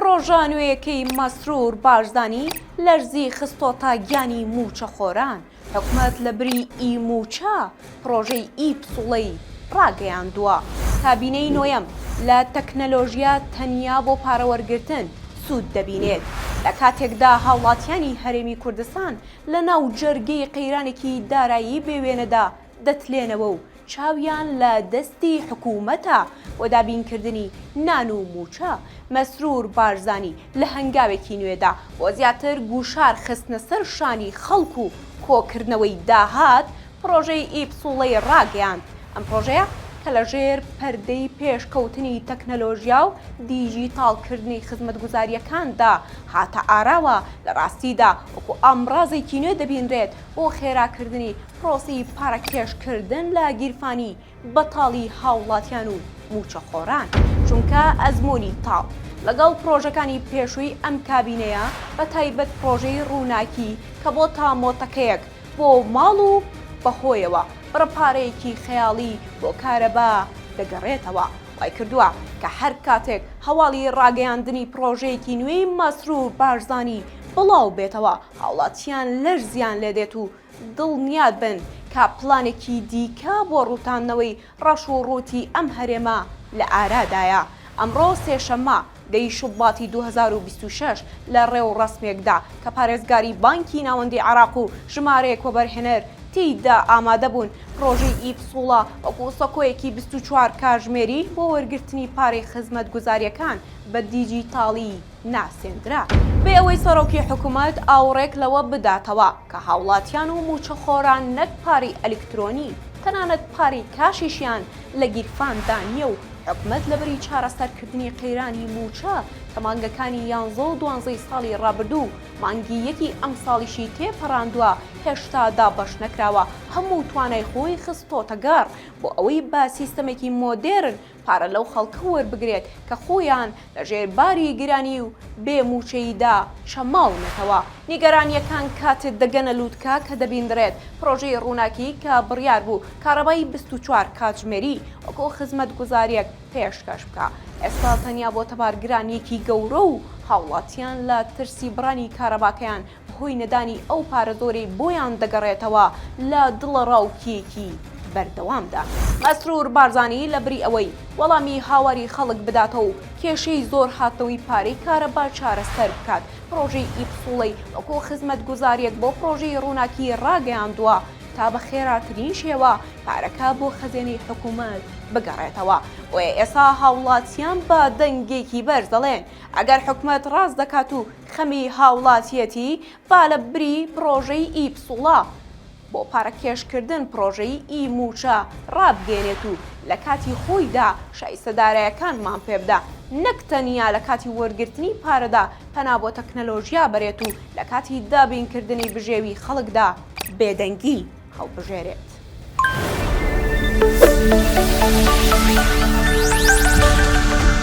پڕۆژە نوێیەکەی مەسرور بارزانی لەرزی خستۆتە گیانی مووچەخۆران، حکومەت لە بری ئی مووچە پڕۆژەی ئی پسوڵەی ڕاگەیاندووە. کابینەی نۆیەم لە تەکنەلۆژیا تەنیا بۆ پارە وەرگرتن سوود دەبینێت، لە کاتێکدا هاوڵاتیانی هەرێمی کوردستان لەناو جەرگەی قەیرانێکی دارایی بێ وێنەدا دەتلێنەوە و چاویان لە دەستی حکوومەتە بۆ دابینکردنی نان و مووچە، مەسرور بارزانی لە هەنگاوێکی نوێدا بۆ زیاتر گوشار خستنە سەر شانی خەڵک و کۆکردنەوەی داهات، پڕۆژەی ئیپسوڵەی ڕاگەیاند، ئەم پڕۆژەیە کە لە ژێر پەردەی پێشکەوتنی تەکنەلۆژیا و دیجیتاڵکردنی خزمەتگوزارییەکاندا هاتە ئاراوە، لە ڕاستیدا وەکو ئامڕازێکی نوێ دەبینرێت بۆ خێراکردنی پرۆسەی پارەکێش کردن لە گیرفانی بەتاڵی هاوڵاتیان و مووچەخۆران، چونکە ئەزموونی تاڵ لەگەڵ پرۆژەکانی پێشووی ئەم کابینەیە بە تایبەت پرۆژەی ڕووناکی کە بۆتە مۆتەکەیەک بۆ ماڵ و بەهۆیەوە بڕە پارەیەکی خەیاڵی بۆ کارەبا دەگەڕێتەوە وای کردووە کە هەر کاتێک هەواڵی ڕاگەیاندنی پرۆژەیەکی نوێی مەسرور بارزانی بڵاو بێتەوە هاوڵاتیان لەرزیان لێ دێت و دڵنیا بن کە پلانێکی دیکە بۆ ڕووتاندنەوەی ڕەش و ڕووتی ئەم هەرێمە لە ئارادایە. ئەمڕۆ سێشەممە، دە ی شوباتی دوو هەزار و بیست و شەش، لە ڕێوڕەسمێکدا کە پارێزگاری بانکی ناوەندیی عێراق و ژمارەیەک وەبەرهێنەر تێیدا ئامادە بوون، پڕۆژەی ئی پسوڵە وەکوو سەکۆیەکی بیست و چوار کاژمێری بۆ وەرگرتنی پارەی خزمەتگوزارییەکان بە دیجیتاڵی ناسێندرا، بێ ئەوەی سەرۆکی حکومەت ئاوڕێک لەوە بداتەوە کە هاوڵاتیان و مووچەخۆران نەک پارەی ئەلیکترۆنی، تەنانەت پارەی کاشیشیان لە گیرفاندا نییە و حکومەت لەبری چارەسەرکردنی قەیرانی مووچە کە مانگەکانی یانزە و دوانزەی ساڵی ڕابردوو و مانگی یەکی ئەمساڵیشی تێپەڕاندوە هێشتا دابەشنەکراوە هەموو توانای خۆی خستۆتەگەڕ بۆ ئەوەی بە سیستەمێکی مۆدێرن پارە لەو خەڵکە وەربگرێت کە خۆیان لە ژێر باری گرانی و بێ مووچەییدا چەماونەتەوە. نیگەرانییەکان کاتێ دەگەنە لووتکە کە دەبیندرێت پرۆژەی ڕووناکی کە بڕیار بوو کارەبای بیست و چوار کاتژمێری وەکو خزمەتگوزارییەک پێشکەش بکا، ئێستا تەنیا بۆتە بارگرانییەکی گەورە و هاوڵاتیان لە ترسی بڕانی کارەباکەیان هۆی نەدانی ئەو پارە زۆرەی بۆیان دەگەڕێتەوە لە دڵەڕاوکێیەکی بەردەوامدا. مەسرور بارزانی لە بری ئەوەی وەڵامی هاواری خەڵک بداتەوە و کێشەی زۆر هاتنەوەی پارەی کارەبا چارەسەر بکات، پڕۆژەی ئی پسوڵەی وەکو خزمەتگوزارییەک بۆ پڕۆژەی ڕووناکی ڕاگەیاندووە تا بە خێراترین شێوە پارەکە بۆ خەزێنەی حکوومەت بگەڕێتەوە، بۆیە ئێستا هاوڵاتییان بە دەنگێکی بەرز دەڵێن، ئەگەر حکومەت ڕاست دەکات و خەمی هاوڵاتیەتی با لە بری پڕۆژەی ئی پسوڵە بۆ پارەکێشکردن پڕۆژەی ئی مووچە ڕابگەێنێت و لە کاتی خۆیدا شایستە دارایەکانمان پێ بدا نەک تەنیا لە کاتی وەرگرتنی پارەدا پەنا بۆ تەکنەلۆژیا بەرێت و لە کاتی دابینکردنی بژێوی خەڵکدا بێدەنگی هەڵبژێرێت.